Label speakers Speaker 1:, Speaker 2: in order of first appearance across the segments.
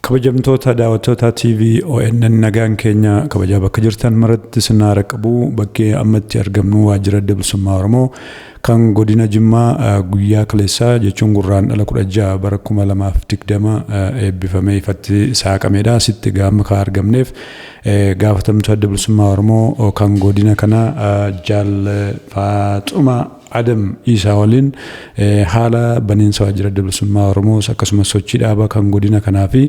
Speaker 1: Kabajamtoota daawwattoota TV ONN nagaan keenya kabajaa bakka jirtan maratti isin haara qabu bakkee amma itti argamnu waajjira adda bilisummaa Oromoo kan godina Jimmaa guyyaa kaleessaa jechuun gurraan dhala kudha ja'a bara kuma lamaaf digdama eebbifamee ifatti saaqameedha. Asitti gaama kan argamneef gaafatamtuu adda bilisummaa Oromoo kan godina kana jaal Faaxuma Adam Iisaa waliin haala baniinsa Waajjira Adda Bilisummaa Oromoos akkasumas sochii dhaabaa kan godina kanaa fi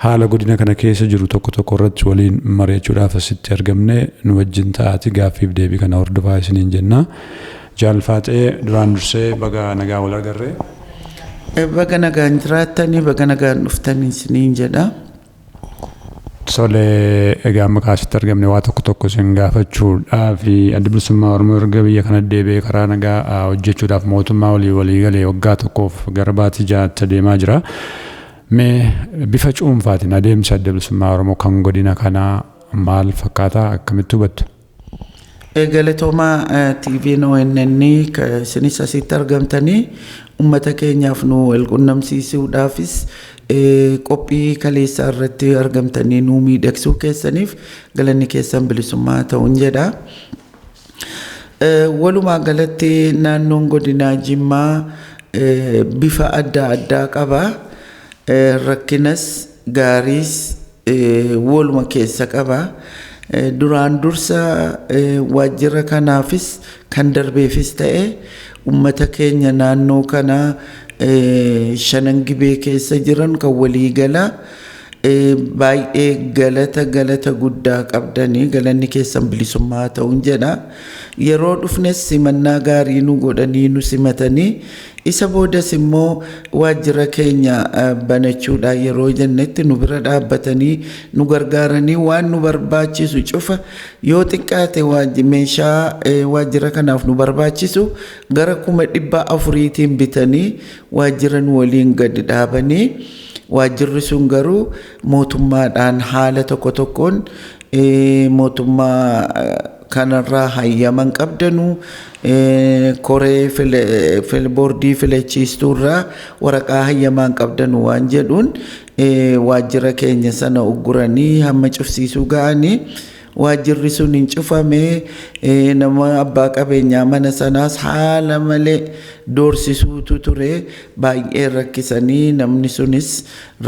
Speaker 1: haala godina kana keessa jiru tokko tokko irratti waliin mari'achuudhaaf asitti argamne nu wajjin ta'aati gaaffii fi deebii kana hordofaa isiniin jenna. Jaal Faaxee duraan dursee baga nagaan wal agarre.
Speaker 2: Baga nagaan jiraattanii baga nagaan dhuftanii isiniin jedha. Tole,
Speaker 1: egaa maqaa asitti argamne waa tokko tokko isin gaafachuudhaaf Addi Bilisummaa Oromoo erga biyya kana deebi'ee karaa nagaa hojjechuudhaaf mootummaa waliin walii galee waggaa tokkoof gara baatii jaatti adeemaa jira. Mee bifa cuunfaatiin adeemsi Adda Bilisummaa Oromoo kan godina kanaa maal fakkaata akkamitti hubattu? Galatoomaa
Speaker 2: TVn ONN ka isinis asitti argamtanii ummata keenyaaf nu wal qunnamsiisuudhaafis eh, qophii kaleessaa irratti argamtanii nuu miidhagsuu keessaniif galanni keessan bilisummaa haa ta'uun jedha. Eh, Walumaa galatti naannoon godinaa Jimmaa eh, bifa adda addaa qaba. Eh, Rakkinas gaariis woluma keessa qaba. Duraan dursa waajjira kanaafis kan darbeefis ta'e ummata keenya naannoo kana shanan gibee keessa jiran kan walii gala baay'ee galata galata guddaa qabdanii galanni keessan bilisummaa haa ta'un jedha. Yeroo dhufnes simannaa gaarii nu godhanii nu simatanii Isa boodas immoo waajjira keenya banachuudhaa yeroo jennetti nu bira dhaabbatanii nu gargaaranii waan nu barbaachisu cufa yoo xiqqaate waaj- meeshaa eh, waajjira kanaaf nu barbaachisu gara kuma dhibba afuriitiin bitanii waajjira nu waliin gadi dhaabanii waajjirri sun garuu mootummaadhaan haala tokko tokkoon eh, mootummaa eh, kanarraa hayyama hin qabdanu koree boordii filachiistuurraa waraqaa hayyamaa hin qabdanu waan jedhuun waajjira keenya sana ugguranii hamma cufsiisuu ga'anii waajjirri sun hin cufame nama abbaa qabeenyaa mana sanaas haala malee doorsisuutu ture baay'ee rakkisanii namni sunis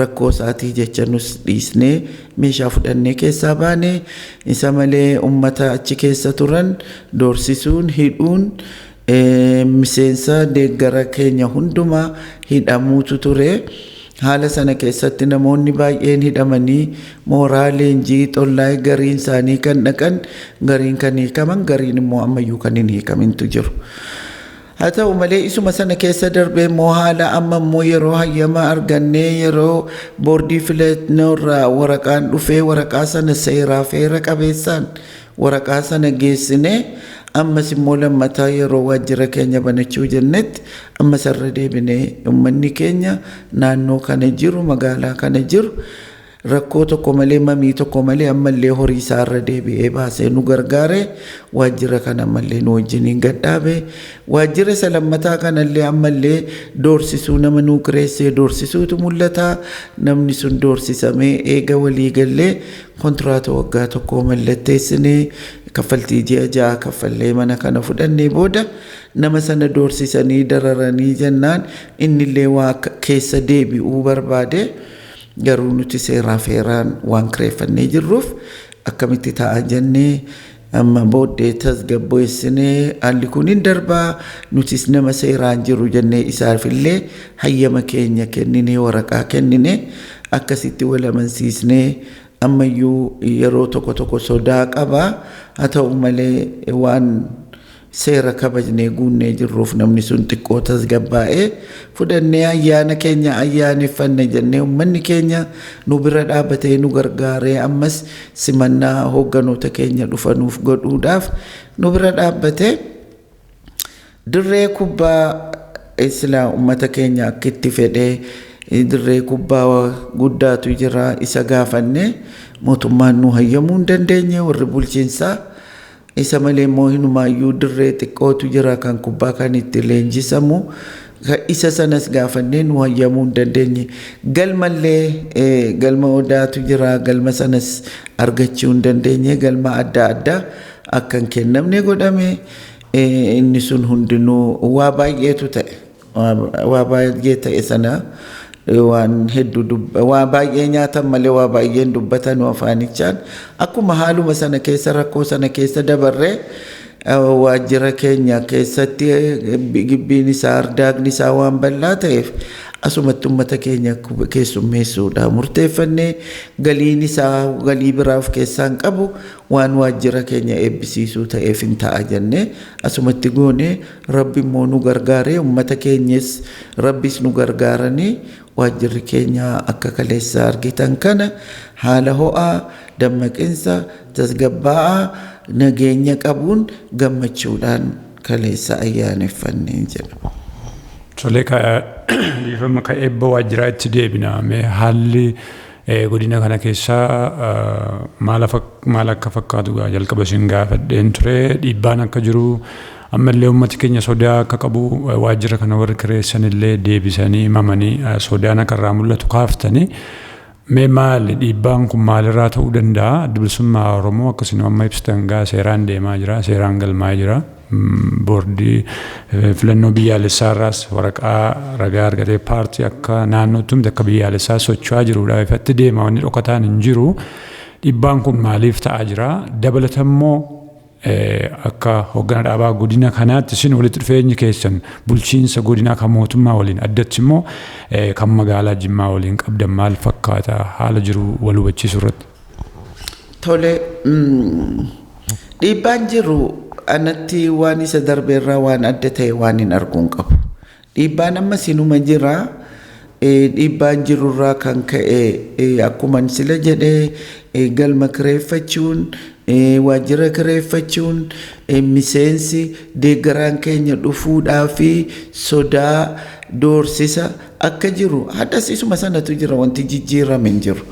Speaker 2: rakkoo isaatii jecha nus dhiisnee Meeshaa fudhannee keessaa baane. Isa malee ummata achi keessa turan doorsisuun, hidhuun, miseensa, deeggara keenya hundumaa hidhamuutu ture. Haala sana keessatti namoonni baay'een hidhamanii mooraa leenjii Xollaay gariin isaanii kan dhaqan, gariin kan hiikaman, gariin immoo ammayyuu kan hin hiikamintu jiru. Haa ta'u malee isuma sana keessa darbee immoo haala amma immoo yeroo hayyama argannee yeroo boordii filannoo irraa waraqaan dhufee waraqaa sana seeraa fi heera qabeessaan waraqaa sana geessinee ammas immoo lammataa yeroo waajjira keenya banachuu jennetti ammas irra deebinee uummanni keenya naannoo kana jiru magaalaa kana jiru Rakkoo tokko malee mamii tokko malee ammallee horii isaa irra deebi'ee baasee nu gargaare. Waajjira kana ammallee nu wajjiniin gad dhaabe. Waajjira isa lammataa kanallee ammallee doorsisuu nama nuu kireessee doorsisuutu mul'ata. Namni sun doorsisamee eega walii gallee kontiraata waggaa tokkoo mallatteessine kaffaltii ji'a ja'a kaffallee mana kana fudhannee booda nama sana doorsisanii dararanii jennaan innillee waa akka keessa deebi'uu barbaade. Garuu nuti seeraa fi heeraan waan kireeffannee jirruuf akkamitti ta'a jennee amma booddee tasgabbeessinee haalli kun hin darbaa nutis nama seeraan jiru jennee isaafillee hayyama keenya kenninee waraqaa kennine akkasitti wal amansiisnee ammayyuu yeroo tokko tokko sodaa qaba haa ta'u malee waan Seera kabajnee guunnee jirruuf namni sun xiqqoo tasgabbaa'ee fudhannee ayyaana keenya ayyaaneffanne jennee ummanni keenya nu bira dhaabatee nu gargaaree ammas simannaa hoogganoota keenya dhufanuuf godhuudhaaf nu bira dhaabbatee dirree kubbaa silaa ummata keenya akka itti fedhee dirree kubbaa guddaatu jira isa gaafannee mootummaan nu hayyamuu hin dandeenye warri bulchiinsaa Isa malee immoo hinumaayyuu dirree xiqqootu jira kan kubbaa kan itti leenjisamu. Isa sanas gaafannee nu hayyamuu hin dandeenye. Galmallee galma odaatu jira galma sanas argachuu hin dandeenye galma adda addaa akka hin kennamne godhame inni sun hundinuu waa baay'eetu ta'e. Waa baay'ee ta'e sana waan heddu waa baay'ee nyaatan malee waa baay'ee hin dubbatanu afaanichaan. Akkuma haaluma sana keessa rakkoo sana keessa dabarree waajjira keenya keessatti gibbiin isaa ardaagni isaa waan bal'aa ta'eef asumatti ummata keenya keessummeessuudha murteeffannee galiin isaa galii biraa of keessaa hin qabu waan waajjira keenya eebbisiisuu ta'eef hin ta'a jennee asumatti goonee Rabbi immoo nu gargaaree ummata keenyes Rabbis nu gargaaranii waajjirri keenya akka kaleessa argitan kana haala ho'aa, dammaqinsa, tasgabbaa'aa, nageenya qabuun gammachuudhaan kaleessa ayyaaneffanne jedha. Tole
Speaker 1: ka dhiifama ka eebba waajjiraa itti deebina. Mee haalli Godina kana keessa maal akka fakkaatu gaa jalqaba isin gaafadheen ture dhiibbaan akka jiru ammallee uummati keenya sodaa akka qabu waajjira kana warri kireessan illee deebisanii himamanii sodaan akka irraa mul'atu kaaftanii mee maali dhiibbaan kun maalirraa ta'uu danda'a adda bilisummaa Oromoo akkasuma amma ibsitan gaa seeraan deemaa jira seeraan galmaa'ee jira. Boordii filannoo biyyaalessaa irraas waraqaa ragaa argatee paartii akka naannootti humti akka biyyaalessaa socho'aa jiruudha. Ifatti deema wanni dhokataan hin jiru. Dhibbaan kun maaliif ta'aa jira? Dabalatammoo akka hoggana dhaabaa godina kanaatti isin walitti dhufeenyi keessan bulchiinsa godinaa kan mootummaa waliin addatti immoo kan magaalaa Jimmaa waliin qabdan maal fakkaata haala jiru wal hubachiisuu irratti? Tole,
Speaker 2: dhiibbaan jiru anatti waan isa darbe irraa waan adda ta'e waan hin argu hin qabu. Dhiibbaan ammas inuma jira. Dhiibbaan jiru irraa kan ka'e akkuman sila jedhe galma kireeffachuun, waajjira kireeffachuun, miseensi, deeggaraan keenya dhufuudhaa fi sodaa, doorsisa akka jiru har'as isuma sanatu jira wanti jijjiirame hin jiru.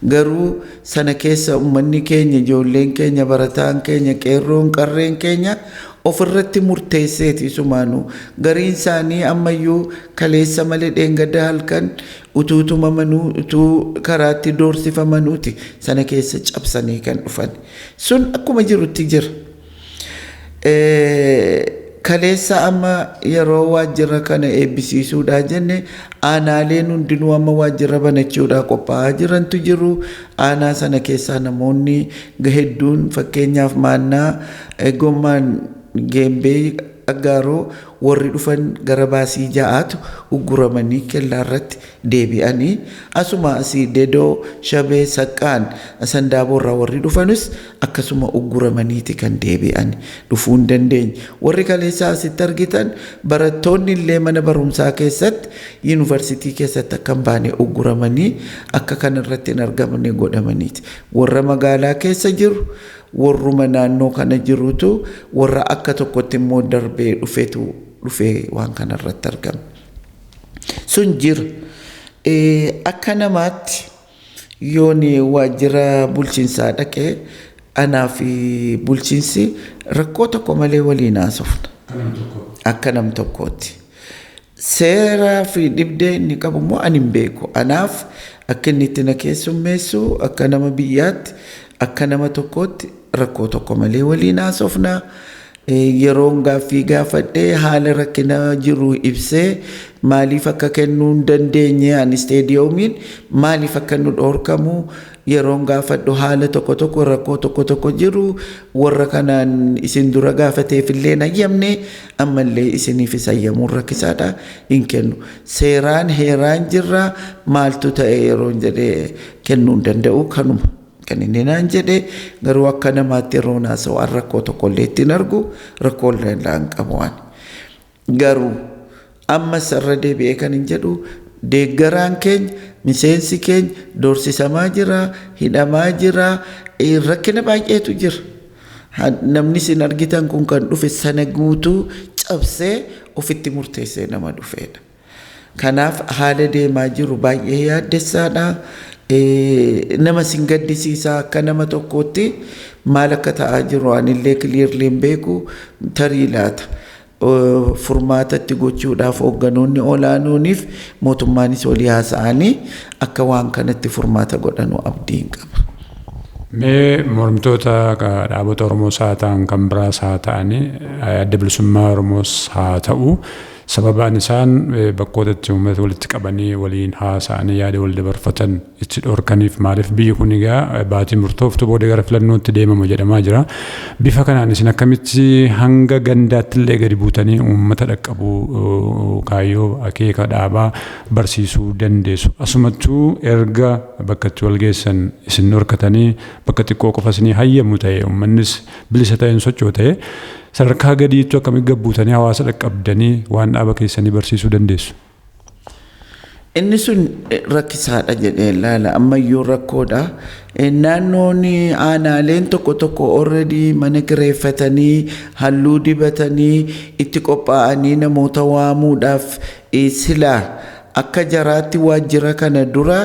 Speaker 2: Garuu sana keessa ummanni keenya, ijoolleen keenya, barataan keenya, qeerroon, qarreen keenya ofirratti murteesseeti isumaanuu. Gariin isaanii ammayyuu kaleessa malee dheengadda halkan utuu tumamanuu, utuu karaatti doorsifamanuuti sana keessa cabsanii kan dhufan. Sun akkuma jirutti jira. Kaleessa amma yeroo waajjira kana eebbisiisuudhaa jenne aanaaleen hundinuu amma waajjira banachuudhaa qophaa'aa jirantu jiru. Aanaa sana keessaa namoonni hedduun fakkeenyaaf maannaa gommaan geembee aggaaroo warri dhufan gara baasii ja'aatu ugguramanii kellaa irratti deebi'anii asuma asii dedoo shabee saqqaan sandaaboorraa warri dhufanus akkasuma ugguramaniiti kan deebi'an, dhufuu hin dandeenye. Warri kaleessa asitti argitan barattoonni illee mana barumsaa keessatti, yuunivarsiitii keessatti akka hin baane ugguramanii akka kan irratti hin argamne godhamaniiti. Warra magaalaa keessa jiru, warruma naannoo kana jirutu, warra akka tokkotti immoo darbee dhufetu dhufee waan kana irratti argame. Sun jira. Akka namaatti Yoon waajjira bulchiinsaa dhaqe anaa fi bulchiinsi rakkoo tokko malee waliin haasofna. Akka nam tokkootti. Seeraa fi dhibdee inni qabu immoo ani hin beeku. Anaaf akka inni itti na keessummeessu akka nama biyyaatti akka nama tokkootti rakkoo tokko malee waliin haasofna. Yeroon gaaffii gaafadhe haala rakkina jiru ibsee maaliif akka kennuu hin dandeenye ani isteediyoomiin maaliif akka nu dhoorkamu yeroon gaafadhu haala tokko tokko rakkoo tokko tokko jiru warra kanaan isin dura gaafateefillee hin hayyamne ammallee isiniifis hayyamuun rakkisaadha hin kennu seeraan heeraan jirra maaltu ta'e yeroon jedhe kennuu hin danda'u kanuma. Kan inni naan jedhe garuu akka namaatti yeroo naasawu an rakkoo tokko illee ittiin argu rakkoo illee irraa hin qabu ani. Garuu ammas irra deebi'ee kan hin jedhu deeggaraan keenya miseensi keenya doorsisamaa jira, hidhamaa jira, rakkina baay'eetu jira. Namni isin argitan kun kan dhufe sana guutuu cabsee ofitti murteessee nama dhufeedha. Kanaaf haala deemaa jiru baay'ee yaaddessaadha. Nama sin gaddisiisa akka nama tokkootti maal akka ta'aa jiru anillee clearly hin beeku tarii laata. Furmaatatti gochuudhaaf hoogganoonni olaanooniif mootummaanis walii haasa'anii akka waan kanatti furmaata godhanu abdiin qaba. Mee
Speaker 1: mormitoota dhaabota Oromoos haa ta'an kan biraas haa ta'anii adda bilisummaa Oromoos haa ta'u Sababaan isaan bakkoota itti uummata walitti qabanii waliin haasa'anii yaada wal dabarfatan itti dhorkaniif maaliif biyyi kun egaa baatii murtooftu booda gara filannootti deemama jedhamaa jira. Bifa kanaan isin akkamitti hanga gandaatti illee gadi buutanii uummata dhaqqabuu kaayyoo akeeka dhaabaa barsiisuu dandeessu. Asumattuu erga bakka itti wal geessan isin dhorkatanii bakka xiqqoo qofa isinii hayyamu ta'e uummannis bilisa ta'een sochootee sadarkaa gadiittu akkamitti gabbuutanii hawaasa dhaqqabdanii waan dhaaba keessanii barsiisuu dandeessu?
Speaker 2: Inni sun rakkisaadha jedhee ilaala. Ammayyuu rakkoodha. Naannoon aanaaleen tokko tokko already mana kireeffatanii halluu dibatanii itti qophaa'anii namoota waamuudhaaf sila akka jaraatti waajjira kana dura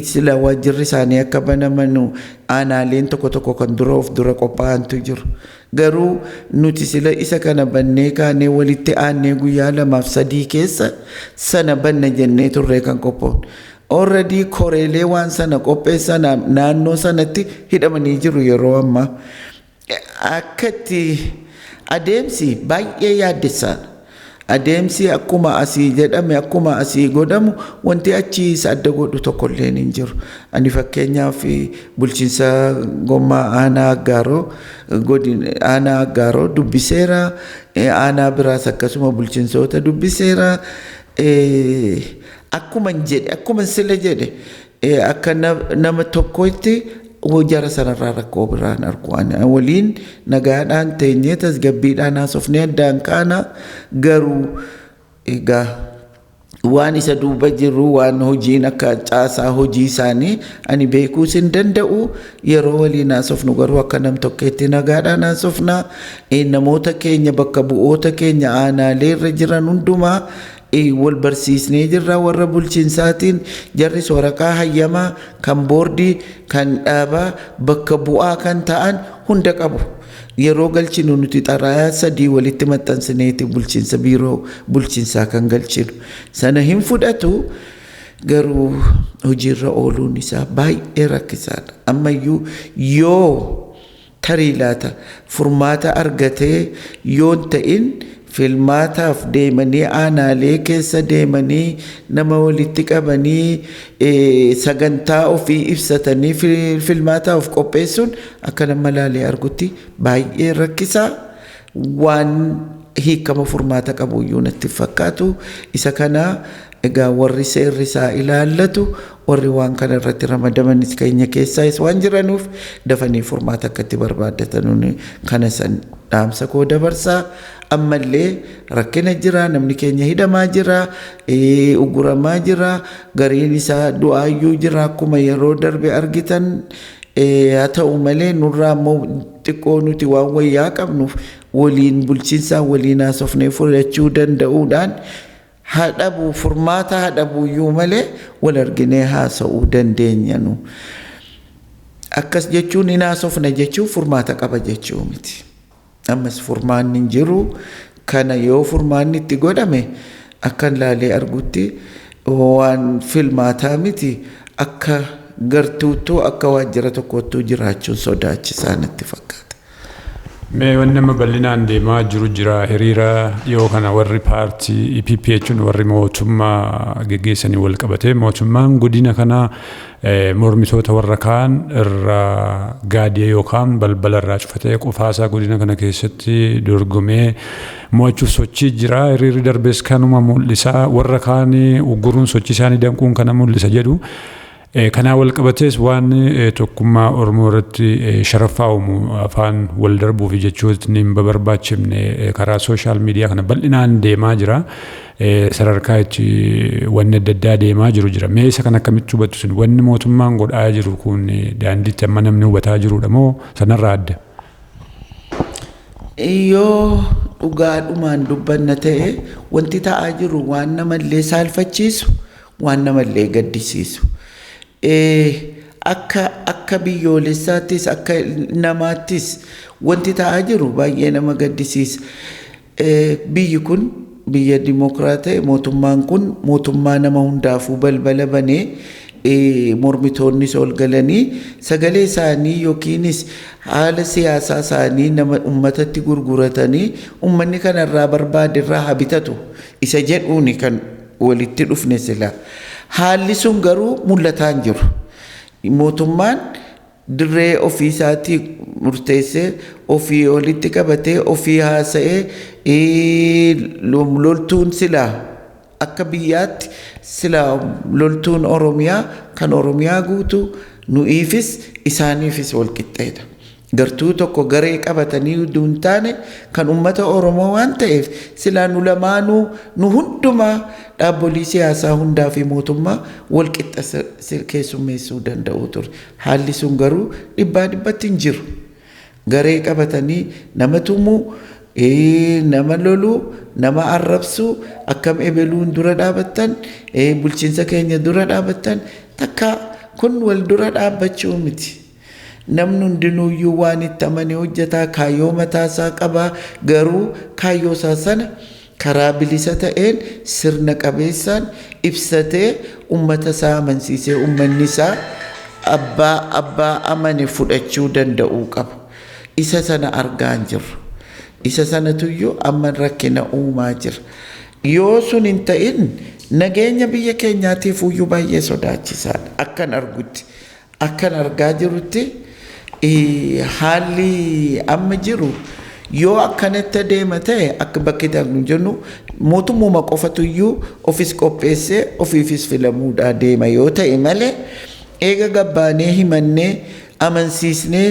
Speaker 2: sila waajjirri isaanii akka banamanu Aanaaleen tokko tokko kan dura of dura qophaa'antu jiru. Garuu nuti sila isa kana bannee kaanee walitti aannee guyyaa lamaaf sadii keessa sana banna jennee turree kan qophoofne. Already koreelee waan sana qopheessan naannoo sanatti hidhamanii jiru yeroo ammaa. Akka itti adeemsi baay'ee yaaddessaadha. Adeemsi akkuma asii jedhame akkuma asii godhamu wanti achi isa adda godhu tokko illee hin jiru. Ani fakkeenyaaf bulchiinsa gommaa aanaa aggaaroo godin aanaa aggaaroo dubbiseera. Aanaa biraas akkasuma bulchiinsoota dubbiseera. Akkuma jedhe akkuma sila jedhe Eh, akka na- nama tokkotti hoo jara sanarraa rakkoo biraan argu ani waliin nagaadhaan teenyee tasgabbiidhaan haasofnee addaan kaana garuu egaa waan isa duuba jiru waan hojiin akka caasaa hojii isaanii ani beekuus hin danda'u yeroo waliin haasofnu garuu akka nam tokkeetti nagaadhaan haasofna Eh, namoota keenya bakka bu'oota keenya aanaalee irra jiran hundumaa wal barsiisnee jirra warra bulchinsaatiin jarris waraqaa hayyamaa kan boordii kan dhaabaa bakka bu'aa kan ta'an hunda qabu. Yeroo galchinu nuti xalayaa sadii walitti maxxansineeti bulchinsa biiroo bulchinsaa kan galchinu. Sana hin fudhatu garuu hojiirra ooluun isaa baay'ee rakkisaadha. Ammayyuu yoo Tarii laata furmaata argatee yoon ta'in filmaataaf deemanii aanaalee keessa deemanii nama walitti qabanii sagantaa ofii ibsatanii filmaataa of qopheessuun akka nama laalee argutti baay'ee rakkisaa waan hiikama furmaata qabuyyuu natti hin fakkaatu. Isa kana egaa warri seerri isaa ilaallatu Warri waan kana irratti ramadamanis keenya keessaayis waan jiranuuf dafanii furmaata akka itti barbaaddatanun kana san dhaamsa koo dabarsa. Ammallee rakkina jira, namni keenya hidhamaa jira, ugguramaa jira, gariin isaa du'aayyuu jira akkuma yeroo darbe argitan. Haa ta'u malee nurraa immoo xiqqoo nuti waan wayyaa qabnuuf waliin bulchinsaan waliin haasofnee fudhachuu danda'uudhaan Haa dhabuu furmaata haa dhabuuyyuu malee wal arginee haasa'uu dandeenya nu. Akkas jechuun hin haasofna jechuun furmaata qaba jechuu miti. Ammas furmaanni hin jiru kana yoo furmaanni itti godhame akkan laalee argutti waan filmaataa miti akka gartuuttuu akka waajjira tokkoottuu jiraachuun sodaachisaa natti fakkaata. Mee
Speaker 1: wanni amma bal'inaan deemaa jiru jira hiriira dhiyoo kana warri paartii EPP jechuun warri mootummaa geggeessanii wal qabatee mootummaan godina kana eh, mormitoota warra kaan irraa gaadee yookaan balbala irraa cufatee qofaasaa godina kana keessatti dorgomee mo'achuuf sochii jira hiriirri darbees kanuma mul'isa warra kaan ugguruun sochii isaanii danquun kana mul'isa jedhu. Kanaan walqabatees waan tokkummaa Oromoo irratti sharaffaa uumu afaan wal darbuu fi jechootni hin babarbaachifne karaa sooshaal miidiyaa kana bal'inaan deemaa jira. Sadarkaa itti wanni adda addaa deemaa jiru jira. Mee isa kan akkamitti hubattu sin wanni mootummaan godhaa jiru kun daandiitti amma namni hubataa jirudha moo sanarraa adda?
Speaker 2: Yoo dhugaadhumaan dubbanna ta'e wanti ta'aa jiru waan namallee saalfachiisu Waan nama illee gaddisiisu. Akka akka biyyoolessaattis akka namaattis wanti ta'aa jiru baay'ee nama gaddisiisa. Biyyi kun biyya dimokiraat ta'e mootummaan kun mootummaa nama hundaafuu balbala banee mormitoonnis ol galanii sagalee isaanii yookiinis haala siyaasaa isaanii nama ummatatti gurguratanii ummanni kanarraa barbaade irraa haa bitatu isa jedhuuni kan walitti dhufne sila. Haalli sun garuu mul'ataa hin jiru. Mootummaan dirree ofii isaatii murteessee ofii walitti qabatee ofii haasa'ee ee, lom- loltuun silaa akka biyyaatti silaa loltuun Oromiyaa kan Oromiyaa guutuu nu'iifis isaaniifis walqixxeedha. Gartuu tokko garee qabatanii uduu hin taane kan ummata Oromoo waan ta'eef silaa nu lamaanuu nu hundumaa dhaabbolii siyaasaa hundaa fi mootummaa wal qixxa keessummeessuu danda'uu ture. Haalli sun garuu dhibbaa dhibbatti hin jiru. Garee qabatanii nama tumuu, nama loluu, nama arrabsuu, akkam ebeluun dura dhaabattan, bulchiinsa keenya dura dhaabattan takkaa kun wal dura dhaabbachuu miti. Namni hundinuuyyuu waan itti amane hojjeta, kaayyoo mataasaa qaba, garuu kaayyoosaa sana karaa bilisa ta'een, sirna qabeessaan ibsatee ummatasaa amansiisee ummannisaa abbaa abbaa amane fudhachuu danda'uu qaba. Isa sana argaa hin jirru. Isa sanatuyyuu amma rakkina uumaa jira. Yoo sun hin ta'in nageenya biyya keenyaatiifuuyyuu baay'ee sodaachisaadha akkan argutti. Akkan argaa jirutti haalli amma jiru yoo akkanatti adeema ta'e akka bakki darbu jennu mootummuma qofatu iyyuu ofis qopheessee ofiifis filamuudhaa deema yoo ta'e malee eega gabbaanee himannee amansiisnee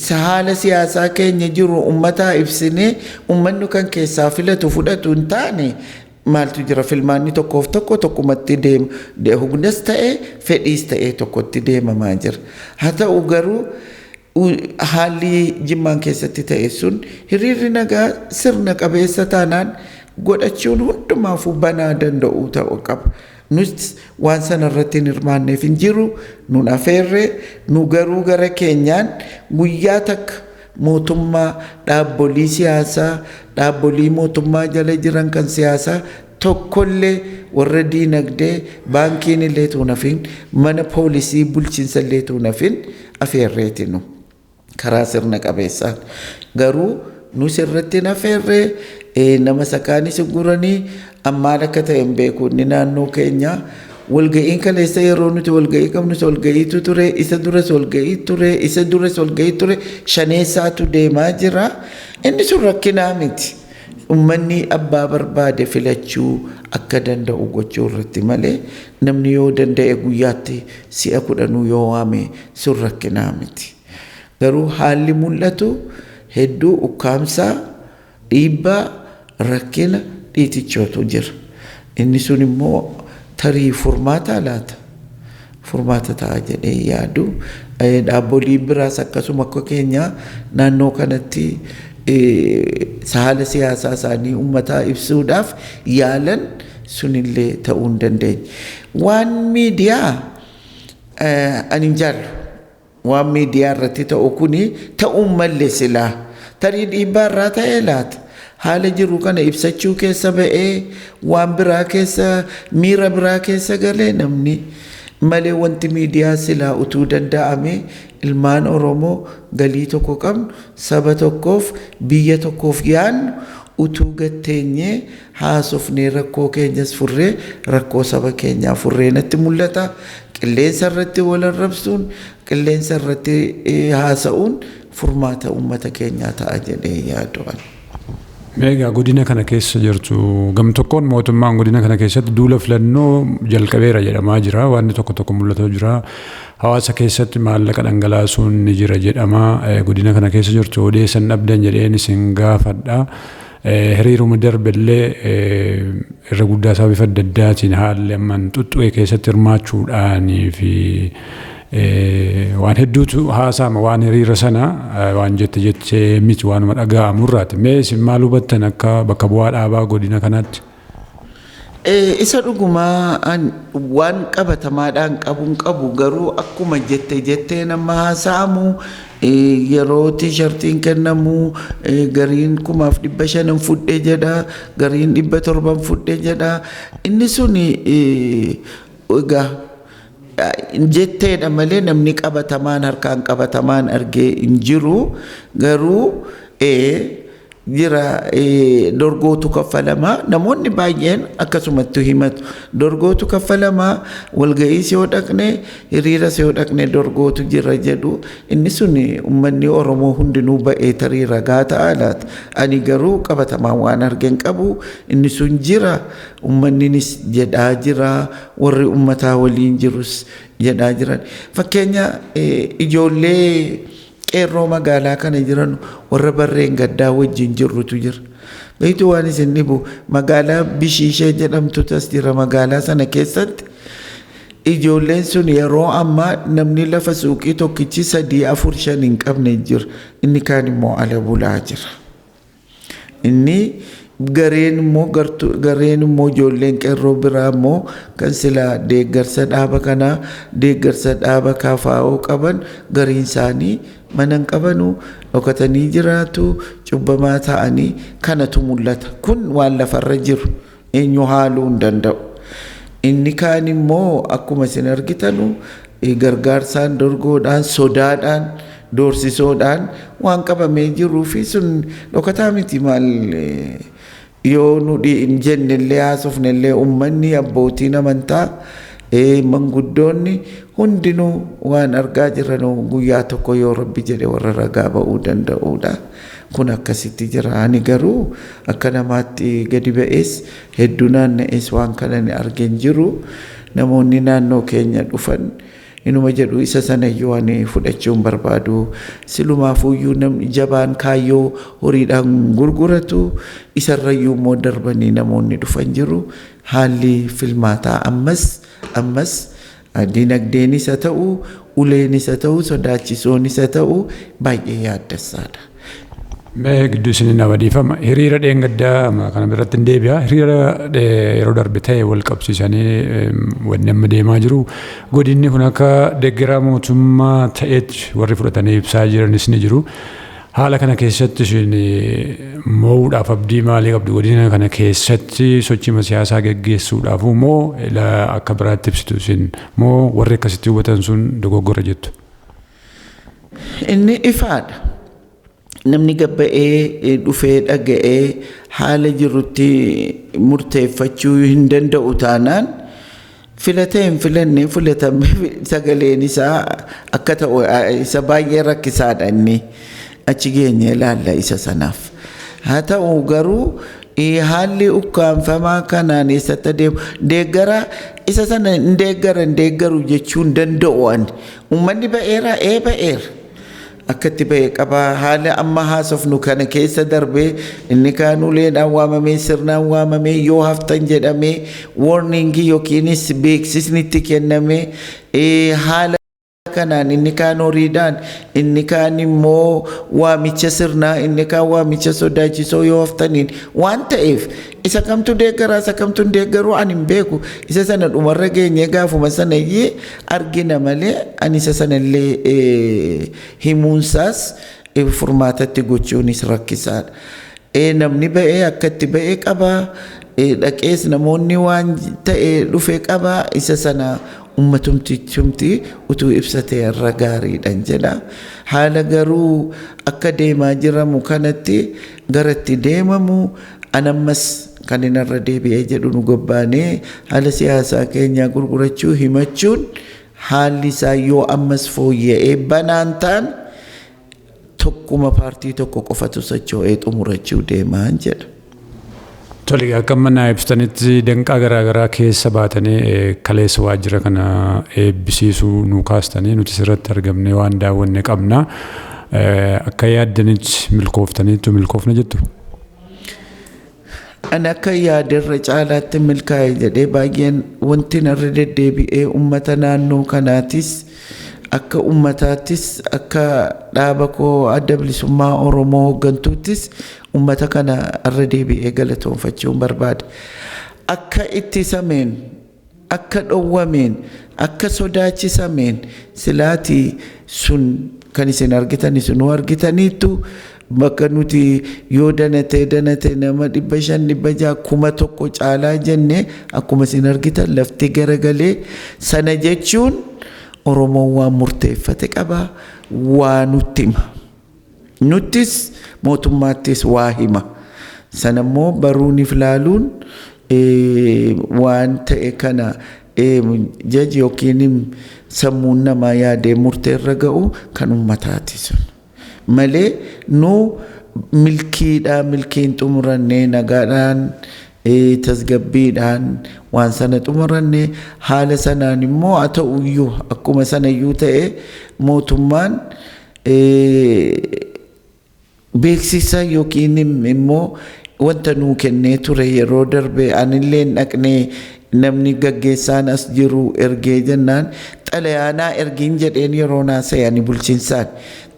Speaker 2: haala siyaasaa keenya jiru ummataa ibsinee ummannu kan keessaa filatu fudhatu hin taane Maaltu jira filmaanni tokkoof tokko tokkumatti deema. De hugnas ta'e fedhiis ta'ee tokkotti deemamaa jira. Haa ta'u garuu u- haalli jimmaan keessatti ta'e sun hiriirri nagaa sirna qabeessa taanaan godhachuun hundumaafuu banaa danda'uu ta'uu qaba. Nus waan sana irratti hin hirmaanneef hin jiru, nun afeerre, nu garuu gara keenyaan guyyaa takka mootummaa, dhaabbolii siyaasaa, dhaabbolii mootummaa jala jiran kan siyaasaa tokkollee warra diinagdee baankiin illee tuun hafiin mana poolisii bulchiinsa illee tuun hafiin afeerreeti nu karaa sirna qabeessaan garuu nus irratti hin afeerree nama sakaanis guranii ammaan akka ta'e hin beeku inni naannoo keenyaa Walga'iin kaleessa yeroo nuti walga'ii qabnus walga'iitu ture, isa duras walga'ii ture, isa duras walga'ii ture, shaneessaatu deemaa jira. Inni sun rakkinaa miti. Ummanni abbaa barbaade filachuu akka danda'u gochuu irratti malee namni yoo danda'e guyyaatti si'a kudhanuu yoo waame sun rakkinaa miti. Garuu haalli mul'atu hedduu ukkaamsaa Dhiibbaa, rakkina, dhiitichootu jira. Inni sun immoo tarii furmaataa laata? Furmaata ta'a jedhee hin yaadu. Dhaabboliin biraas akkasuma akka keenya naannoo kanatti haala siyaasaa isaanii ummataa ibsuudhaaf yaalan sunillee ta'uu hin dandeenye. Waan miidiyaa ani hin jaallu. Waan miidiyaa irratti ta'u kun ta'uu hin malle silaa. Tarii dhiibbaa irraa ta'ee laata? Haala jiru kana ibsachuu keessa ba'ee waan biraa keessa miira biraa keessa galee namni? Malee wanti miidiyaa silaa utuu danda'amee ilmaan Oromoo galii tokko qabnu saba tokkoof biyya tokkoof yaadnu utuu gad teenyee haasofnee rakkoo keenyas furree rakkoo saba keenyaa furree natti mul'ata. Qilleensa irratti wal arrabsuun, qilleensa irratti haasa'uun furmaata uummata keenyaa ta'a jedhee yaadu ani.
Speaker 1: Egaa godina kana keessa jirtu gam tokkoon mootummaan godina kana keessatti duula filannoo jalqabeera jedhamaa jira. Wanni tokko tokko mul'ataa jira. Hawaasa keessatti maallaqa dhangalaasuun ni jira jedhama. Godina kana keessa jirtu odeessan dhabdan jedheen isin gaafadha. Hiriiruma darbe illee irra guddaa isaa bifa adda addaatiin haalli amman xuxxu'e keessatti hirmaachuudhaanii fi waan hedduutu haasaama waan hiriira sana waan jette jettee miti waanuma dhaga'amu irraati. Mee isin maal hubattan akka bakka bu'aa dhaabaa godina kanaatti?
Speaker 2: Isa dhugumaa an waan qabatamaadhaan qabuun qabu garuu akkuma jette jetteen amma haasa'amu yeroo tiishartiin kennamu gariin kumaaf dhibba shanan fudhe jedha gariin dhibba torban fudhe jedha inni sun egaa jetteedha malee namni qabatamaan harkaan qabatamaan argee hin jiru garuu jira dorgootu kaffalamaa namoonni baay'een akkasumattu himatu dorgootu kaffalamaa walga'iis yoo dhaqne hiriiras yoo dhaqne dorgootu jira jedhu inni sun ummanni oromoo hundinuu ba'ee tarii ragaa ta'a laata ani garuu qabatamaan waan argen qabu inni sun jira Ummanninis jedhaa jira, warri ummataa waliin jirus jedhaa jiran. Fakkeenya ijoollee qeerroo magaalaa kana jiran warra barreen gaddaa wajjin jirrutu jira. Beektu waan isin dhibu magaalaa Bishiishee jedhamtutu as jira magaalaa sana keessatti. Ijoolleen sun yeroo ammaa namni lafa suuqii tokkichi sadii afur shan hin qabne jira. Inni kaan immoo ala bulaa jira. Inni gareen immoo gareen immoo ijoolleen qeerroo biraa immoo kan silaa deeggarsa dhaaba kanaa deeggarsa dhaaba kaafaa'oo qaban gariin isaanii mana hin qabanu dhokatanii jiraatu cubbamaa ta'anii kanatu mul'ata kun waan lafarra jiru. Eenyu haaluu hin danda'u. Inni kaan immoo akkuma isin argitanu gargaarsaan, dorgoodhaan, sodaadhaan, doorsisoodhaan waan qabamee jiruu fi sun dhokataa miti maal yoo nu hin jenne illee haasofne illee ummanni abbootiin amantaa manguddoonni hundinuu waan argaa jiranu guyyaa tokko yoo rabbi jedhe warra ragaa ba'uu danda'uudha. Kun akkasitti jira. Ani garuu akka namaatti gadi ba'ees hedduu naanna'ees waan kana ani arge hin jiru. Namoonni naannoo keenya dhufan inuma jedhu isa sanayyuu ani fudhachuu hin barbaadu. Silumaafuuyyuu namni jabaan kaayyoo horiidhaan hin gurguratu. Isarrayyuu immoo darbanii namoonni dhufan jiru. Haalli filmaataa ammas ammas Dinagdeenis haa ta'u, uleenis haa ta'u, sodaachisoonis haa ta'u baay'ee yaaddessaadha. Mee
Speaker 1: gidduu isin nama dhiifama. Hiriira dheengaddaa amma kana irratti hin deebi'a. Hiriira eh, yeroo darbe ta'e wal qabsiisanii em, wanni amma deemaa jiru. Godinni kun akka deeggaraa mootummaa ta'eetti warri fudhatanii ibsaa jiranis ni jiru. Haala kana keessatti isin mo'uudhaaf abdii maalii qabdu? Godina kana keessatti sochiima siyaasaa geggeessuudhaafuu moo ila akka biraatti ibsitu isin? Moo warri akkasitti hubatan sun dogoggora jettu? Inni
Speaker 2: ifaadha. Namni gad ba'ee dhufee dhaga'ee haala jirutti murteeffachuu hin danda'u taanaan Filatee hin filannee filatame sagaleen isaa akka ta'u isa baay'ee rakkisaadha inni achi geenye ilaalla isa sanaaf. Haa ta'u garuu haalli ukkaamfamaa kanaan eessatti adeemu deeggara isa sana hin deeggara hin deeggaru jechuun danda'u ani. Uummanni ba'eera ee ba'eera. akka itti ba'e qaba. Haala amma haasofnu kana keessa darbee inni kaan uleedhaan waamamee sirnaan waamamee yoo haftan jedhamee warningii yookiinis beeksisni itti kennamee ee, haala kanaan inni kaan horiidhaan inni kaan immoo waamicha sirnaa inni kaan waamicha sodaachisoo yoo haftaniin waan ta'eef Isa kamtu deeggara isa kamtu hin deeggaru ani hin beeku. Isa sana dhumarra geenyee gaafuma sana iyyee argina malee ani isa sana illee eh, himuunsaas eh, furmaatatti gochuunis rakkisaadha. Eh, Namni ba'ee akka itti ba'e qaba. Eh, Dhaqees namoonni waan ta'e dhufe qaba. Isa sana ummatumtichumti utuu ibsate irra gaariidhan jedha. Haala garuu akka deemaa jiramu kanatti gara itti deemamu An ammas kanin irra deebi'ee jedhu nu gobbaanee haala siyaasaa keenyaa gurgurachuu himachuun haalli isaa yoo ammas fooyya'ee banaan taane tokkuma paartii tokko qofatu socho'ee xumurachuu deemaan jedha. Tole
Speaker 1: akka amma naa ibsitanitti danqaa garaa garaa keessa baatanii eh, kaleessa waajjira kana eebbisiisuu nuu kaastanii nuti sirratti argamnee waan daawwanne qabna. Akka yaaddanitti milkooftaniittu milkoofne jettu?
Speaker 2: Ani akka yaade irra caalaatti milkaa'e jedhee baay'een wanti narra deddeebi'ee uummata naannoo kanaatis akka uummataattis akka dhaaba koo adda bilisummaa Oromoo hooggantuuttis uummata kana irra deebi'ee galatoonfachuun barbaada. Akka ittisameen akka dhowwameen, akka sodaachisameen, silaati sun kan isin argitan isinuu argitaniittu, bakka nuti yoo danatee danate nama dhibba shan dhibba ja'a kuma tokko caalaa jenne akkuma isin argitan lafti garagalee sana jechuun Oromoon waan murteeffate qaba waa nutti hima. Nuttis mootummaattis waa hima. Sana immoo baruunif laaluun waan ta'e kana jaji yookiin sammuun namaa yaadee murtee irra ga'u kan ummataati sun. Malee nu milkiidha milkiin xumurannee nagaadhaan tasgabbiidhaan waan sana xumurannee haala sanaan immoo haa ta'uyyuu akkuma sanayyuu ta'e mootummaan Beeksisa yookiin immoo wanta nuu kennee ture yeroo darbe anilleen dhaqnee namni gaggeessaan as jiru ergee jennaan xalayaa naa ergiin jedheen yeroo naa seeyani bulchinsaan.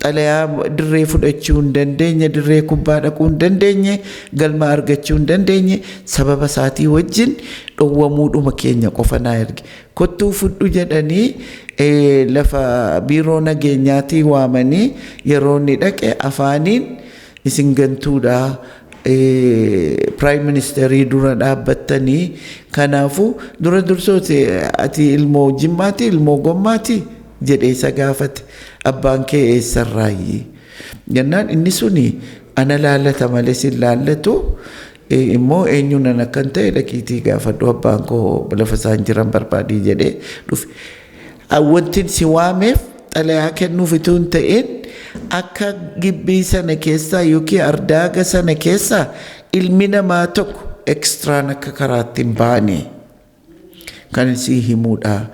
Speaker 2: Xalayaa dirree fudhachuu hin dandeenye, dirree kubbaa dhaquu hin dandeenye, galma argachuu hin dandeenye sababa isaatii wajjin dhowwamuudhuma keenya qofa naa erge. Kottuu fudhu jedhanii lafa biiroo nageenyaatii waamanii yeroo inni dhaqe afaaniin isin gantuudha piraayim ministeerii dura dhaabbattanii kanaafu dura dursooti ati ilmoo jimmaati ilmoo gommaati jedhee isa gaafate abbaan kee eessarraayyi jennaan inni suni ana laallata malee sin laallatu immoo eenyuun an akkan ta'e dhaqiitii gaafadhu abbaan koo lafa isaan jiran barbaadii jedhee dhufe. Wantin si waameef xalayaa kennuuf utuu hin ta'in akka gibbii sana keessaa yookiin ardaaga sana keessaa ilmi namaa tokko ekstraan akka karaatti hin baane. Kan sii himuudha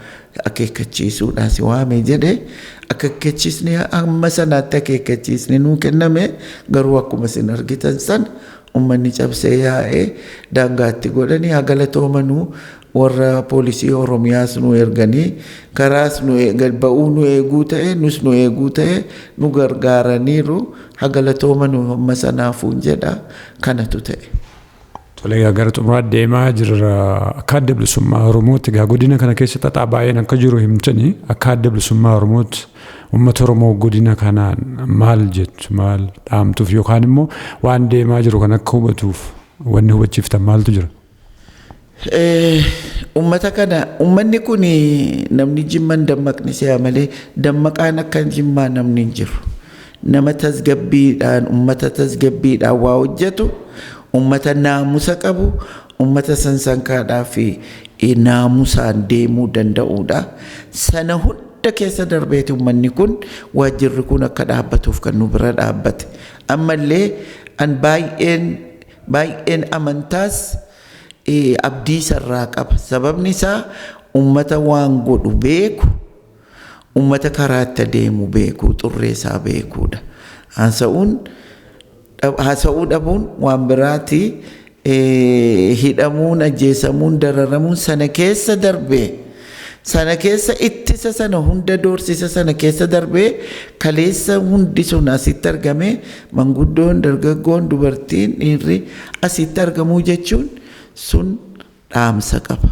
Speaker 2: akeekkachiisuudha si waame jedhe akeekkachiisni amma sanaatti akeekkachiisni nuu kenname garuu akkuma isin argitan san ummanni cabsee yaa'ee daangaatti godhanii haa galatoomanuu warra poolisii Oromiyaas nu erganii karaas nu eegan ba'uu nu eeguu ta'e nus nu eeguu ta'e nu gargaaraniiru haa galatoomanuu amma sanaafuun jedha kanatu ta'e. Tole egaa
Speaker 1: gara xumuraatti deemaa jirra. Akka adda bilisummaa Oromootti egaa godina kana keessa xaxaa baay'een akka jiru himtani. Akka adda bilisummaa Oromootti uummata Oromoo godina kanaan maal jettu maal dhaamtuuf yookaan immoo waan deemaa jiru kan akka hubatuuf wanni hubachiiftan maaltu jira?
Speaker 2: Ummata kana ummanni kun namni jimman dammaqni se'a malee dammaqaan akka jimmaa namni hin jiru. Nama tasgabbiidhaan ummata tasgabbiidhaan waa hojjetu ummata naamusa qabu ummata sansankaadhaa fi naamusaan deemuu danda'uudha. Sana hunda keessa darbeeti ummanni kun waajjirri kun akka dhaabbatuuf kan nu bira dhaabbate. Ammallee an baay'een baay'een amantaas abdii isarraa qaba. Sababni isaa ummata waan godhu beeku, ummata karaa itti adeemu beeku, xurree isaa beekuudha. Haasa'uun haasa'uu dhabuun waan biraati. Hidhamuun, ajjeesamuun, dararamuun sana keessa darbee. Sana keessa ittisa sana hunda doorsisa sana keessa darbee kaleessa hundi sun asitti argamee manguddoon, dargaggoon, dubartiin, dhiirri asitti argamuu jechuun sun dhaamsa qaba.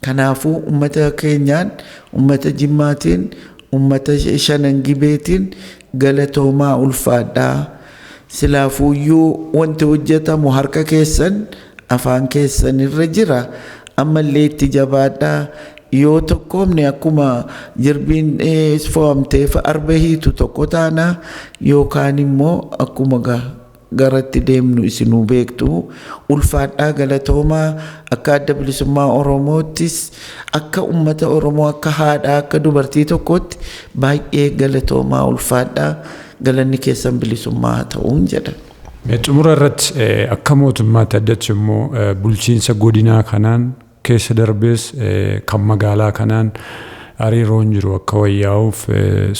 Speaker 2: Kanaafuu uummata keenyaan, uummata Jimmaatiin, uummata Shanan Gibeetiin galatoomaa ulfaadhaa. Silaafuuyyuu wanti hojjetamu harka keessan, afaan keessan irra jira. Ammallee itti jabaadhaa. Yoo tokkoomne akkuma jirbiin fo'amteef arba hiitu tokko taana. Yookaan immoo akkuma garatti deemnu isinuu beektu. Ulfaadhaa galatoomaa akka adda bilisummaa Oromoottis akka ummata Oromoo akka haadhaa akka dubartii tokkootti baay'ee galatoomaa ulfaadhaa. Galanni keessan bilisummaa haa ta'uun jedha. Xumura irratti
Speaker 1: akka mootummaatti addatti immoo bulchiinsa godinaa kanaan keessa darbees kan magaalaa kanaan hariiroon jiru akka wayyaa'uuf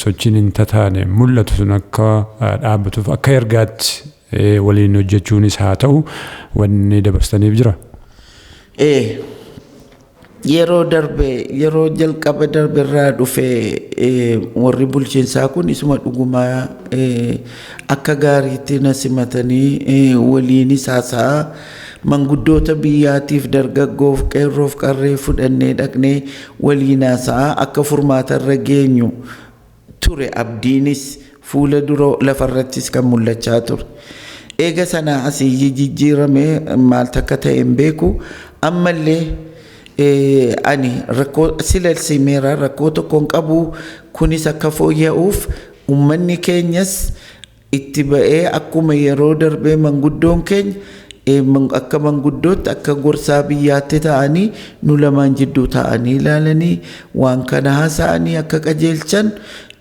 Speaker 1: sochiin hin tataane mul'atu sun akka dhaabbatuuf akka ergaatti waliin hojjechuunis haa ta'u wanni dabarsitaniif jira? Ee. Yeroo
Speaker 2: darbe yeroo jalqaba darbe irraa dhufe warri bulchiinsaa kun isuma dhuguma akka gaariitti na simatanii waliinis haasa'aa manguddoota biyyaatiif dargaggoof qeerroof qarree fudhannee dhaqnee waliin haasa'aa akka furmaata irra geenyu ture abdiinis fuula dura lafarrattis kan mul'achaa ture. Eega sanaa asi iyyi jijjiirame maal takka ta'e hin beeku. Ammallee ani rakkoo silas himeera rakkoo tokko hin qabu kunis akka fooyya'uuf ummanni keenyas itti ba'ee akkuma yeroo darbee manguddoon keenya eh, man- akka manguddootti akka gorsaa biyyaatti ta'anii nu lamaan jidduu ta'anii ilaalanii waan kana haasa'anii akka qajeelchan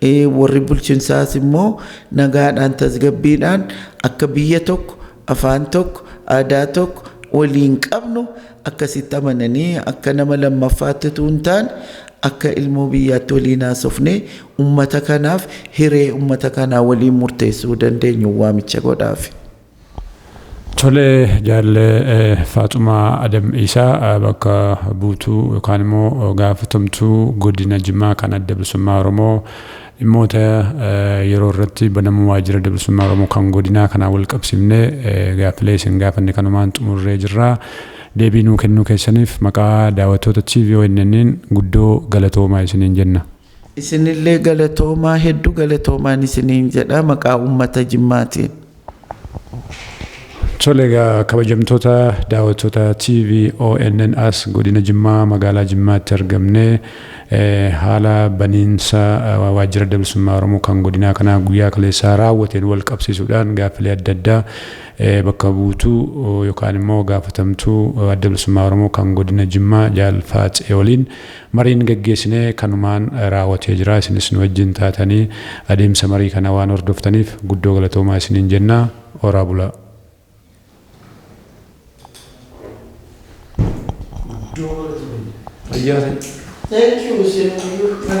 Speaker 2: eh, warri bulchinsaas immoo nagaadhaan tasgabbiidhaan akka biyya tokko afaan tokko, aadaa tokko waliin qabnu akkasitti amananii akka nama lammaffaatti utuu hin taane akka ilmoo biyyaatti waliin haasofnee ummata kanaaf hiree ummata kanaa waliin murteessuu dandeenyu waamicha godhaafi. Tolee
Speaker 1: jaallee Faaxumaa Adam Iisaa bakka buutuu yookaan immoo gaafatamtuu godina Jimmaa kan adda bilisummaa Oromoo Dhimmoota yeroo irratti banamuu Waajjira Adda Bilisummaa Oromoo kan Godinaa kanaan wal qabsiifnee gaaffilee isin gaafanne kanumaan xumurree jirra. Deebii nuu kennuu keessaniif maqaa daawwattoota TV ONN'n guddoo galatoomaa isiniin jenna. Isinillee
Speaker 2: galatoomaa heddu galatoomaan isiniin jedha maqaa uummata Jimmaatiin.
Speaker 1: Tole egaa kabajamtoota daawwattoota TV ONN as godina Jimmaa magaalaa Jimmaatti argamne haala baniinsa waajjira adda bilisummaa Oromoo kan godinaa kanaa guyyaa kaleessaa raawwateen wal qabsiisuudhaan gaaffilee adda addaa bakka buutuu yookaan immoo gaafatamtuu adda bilisummaa Oromoo kan godina Jimmaa Jaal Faatsee waliin Mariin gaggeessine kanumaan raawatee jira. Isinis nu wajjin taatanii adeemsa marii kanaa waan hordoftaniif guddoo galatoomaa isiniin jenna. Horaa bulaa! Guddoo
Speaker 2: galatomi. Fayyaa ta'i. Thank you isin.